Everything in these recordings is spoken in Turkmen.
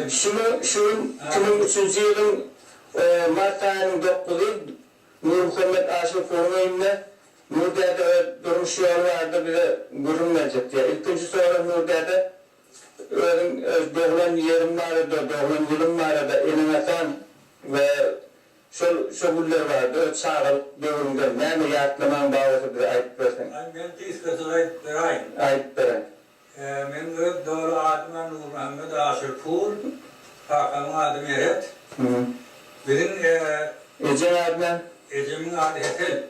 Şumy şu gün iki müň üçünji ýylyň mart aýynyň dokuzy Nurmuhammet Aşyrkuryň öýünde Nur däde öz durmuş ýoly barada bize gürrüň berjek diýýär. Ilkinji sorag Nur däde özüň öz doglan ýeriň barada, doglan ýylyň barada, eneň-ataň we şol şo günler barada öz çagalyk döwrüňden näme ýatlamaň ba bolsa bize aýdyp berseň. Aý men gysgaça aýdyp beraýyn. Aýdyp beräý. Meniň öz doly adymam Nurmuhammet Aşyrpur. Kakamyň ady Meret. Biziň Ejeň ady näme? Ejemiň ady Hesel.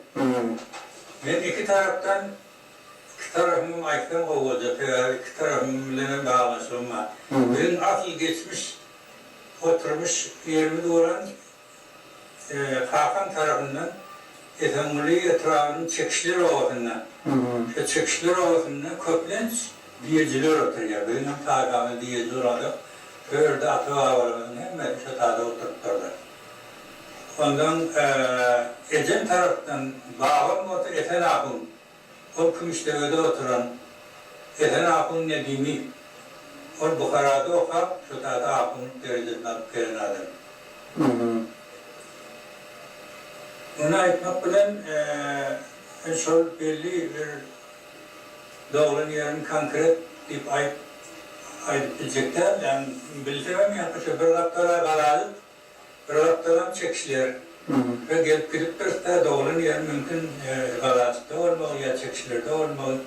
Men iki tarapdan, iki tarapymam aýtsam gowy boljak, sebäbi iki tarapym bilenem baglanyşygym bar. Biziň asyl geçmiş oturmyş ýerimiz bolan Kakam tarapyndan Esenguly etrabynyň Çekişler obasynda. Şo Çekişler obasynda köplenç diýejiler oturýar. Biziň hem taýpamyz diýeji bolmadyk. Şo ýerde ata-babalarymyzyň hemmesi şo taýda oturypdyrlar. Ondan ejem tarapdan babam bolsa Esen ahun. Ol Kümüşdebede oturan Esen ahun Nedimi. Ol Buharada okap, şo sady ahunlyk derejesini alyp gelen adam. Muny aýtmak bilen, men şol belli bir doglan ýerini konkret diýip aýdyp biljek däldim. Bilsemem, ýa-da şo bir gapdalaý galaýyk. Pyragypdalam çekişiler we gelip gidip durusda doglan ýeri mümkin Galajykda bolmagy ýa çekişilerde bolmagy.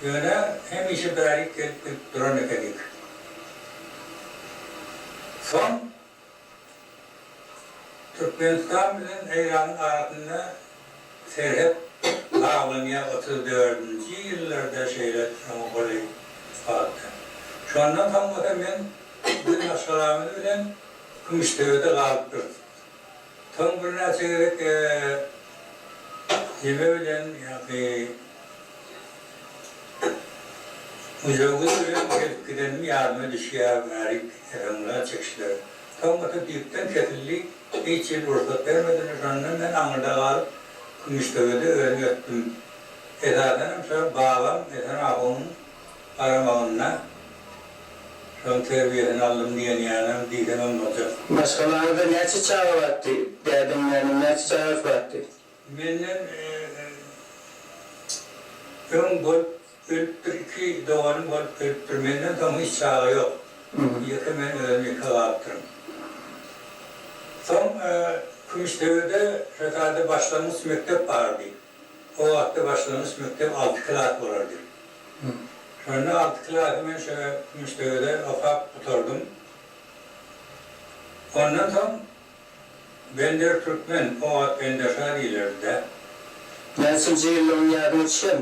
Ýöne hemişe bärik gelip gidip duran ekenik. Soň Türkmenistan bilen Eýranyň arasynda serhet baglanýar otuz dördünji ýyllarda şeýle şoňa golaý wagtda. Şondan soň bolsa men Maşgalamyz bilen Küştdebede galyp durdy. Soň birnäçe gezek jime bilen ýa-da müjewüz bilen gelip gidenim ýadyma düşýär, Mälik Esengulan çekişleri. Soňkusy düýpden kesildi, hiç ýyl rugsat bermediler. Şonda men aňyrda galyp, Kümüşdebede özüm ötdüm. Esasanam şol babam Esen ahunyň. garamagynda şoň terbiýesini aldym diýen ýalam diýseňem boljak. Maşgalaňyzda näçe çaga batdy? Dädiň, näniň näçe çagasy batdy? Menden öň bolup ölüpdir, iki doganym bolup ölüpdir. Menden soň hiç çaga ýok. Ýeke men özüm ýeke galypdyryn. Soň Kümüşdebede şo taýda başlangyç mekdep bardy. O wagtda başlangyç mekdep alty klas bolardy. Şonda alty klasy men şo Kümüşdegede okap gutardym. Ondan soň Bender Türkmen, o wagt Benderşa diýilerdi-dä. Näçinji ýyllygyň ýadyňa düşen?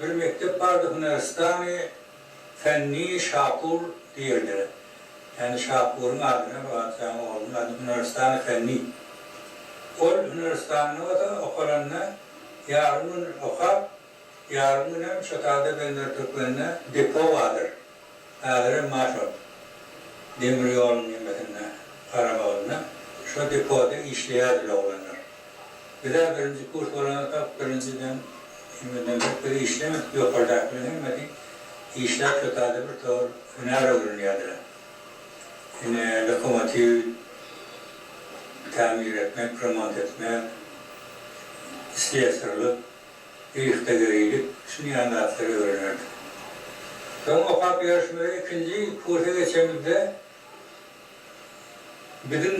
Bir mekdep bardy Hunaristani Fenni Şapur diýerdiler. Ýani Şapuryň adyna bu atýan oglunyň ady Hunaristani Fenni. Ol Hunaristanda bolsa okalanda ýarym gün okap, ýarym günem şo taýda Bender Türkmende depo bardyr. Häzirem Marşrut demir ýolunyň nemesinde, garamagynda şo depoda işleýärdi oglanlar. Biz-ä birinji kurs bolansoňam birinjiden indiden bek biz işlemedik, ýokardakylaryň hemmesi işläp şo taýda bir tor hünär öwrenýärdiler. Ine, lokomotiw tämir etmek, remont etmek, slesarlyk. yhtagerylyk, şuny ýaly zatlary öwrenerdik. Soň okap ýörşümizde ikinji kursa geçemizde biziň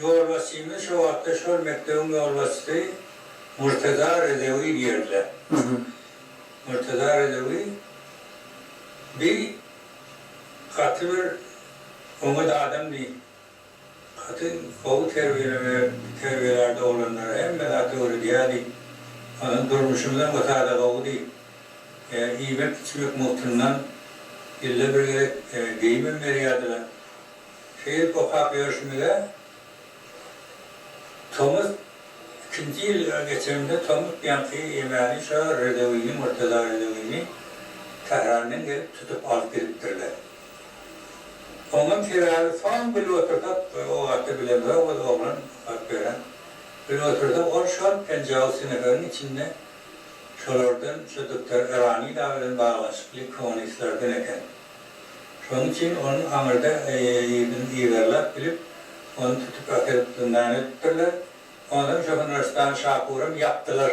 ýolbaşçymyz şo wagtda şol mekdebiň ýolbaşçysy Murtaza Rezewi diýerdiler. Murtaza Rezewi bi gaty bir oňat adamdy. Gaty gowy terbiýeleme terbiýelärdi oglanlara hemme zady öwredýärdi. Onsoň durmuşymyzam o sada gowudy. Iýmek içmek mugtyndan ýylda bir gezek geýimem berýärdiler. Şeýdip okap ýörşümize tomus ikinji ýyl geçenimizde tomus ýaňky ýemäni şo Redewini Murtaza Redewini Tährandan gelip tutup alyp gidipdirler. Oňam sebäbi soň bile otursak bir o gaty bilemzok biz oglan hat beren. Bile otursak ol şol penjaw seneferiň içinde şolardan şo duktor Erani da bilen baglanyşykly kommunistlerden eken. Şoň üçin onuň aňyrda ýerden yzarlap bilip ony tutup akelup zyndan edipdirler. Onsoň şo Hunrastan şapuram ýapdylar.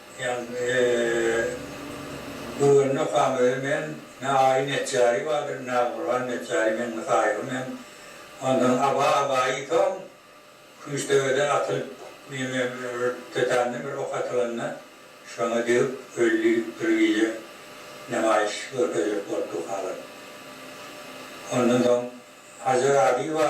Ýan Guwwany okam öýe men, ne Aýy Netjary bardyr, ne Gurban Netjary men Nusaýygy men. Ondan Aba Abaýy soň Kümüşdebeden atylyp neme Rtdtanda bir ok atylanda şoňa degip öldi bir gije nemaýyş görkezilip bolupdy halat. Ondan soň Hajar Abiýewa.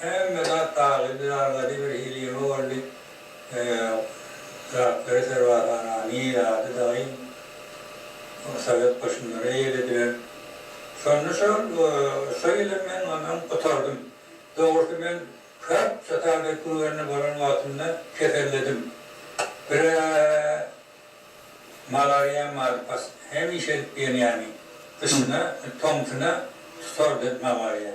Hemme zat taglybly zalda bir hili ýyňy boldy. Zatlary serwazhana, Nil ady dagy sowet goşunlary eýelediler. Şonda şol şo ýyly men ondan gutardym. Dogrusy men köp şotagy kürgende bolan wagtymda keselledim. Bire malariýam bardy pas, hemişe edip ýenýäni. Gyşyna, tomsuna tutardy malariýa.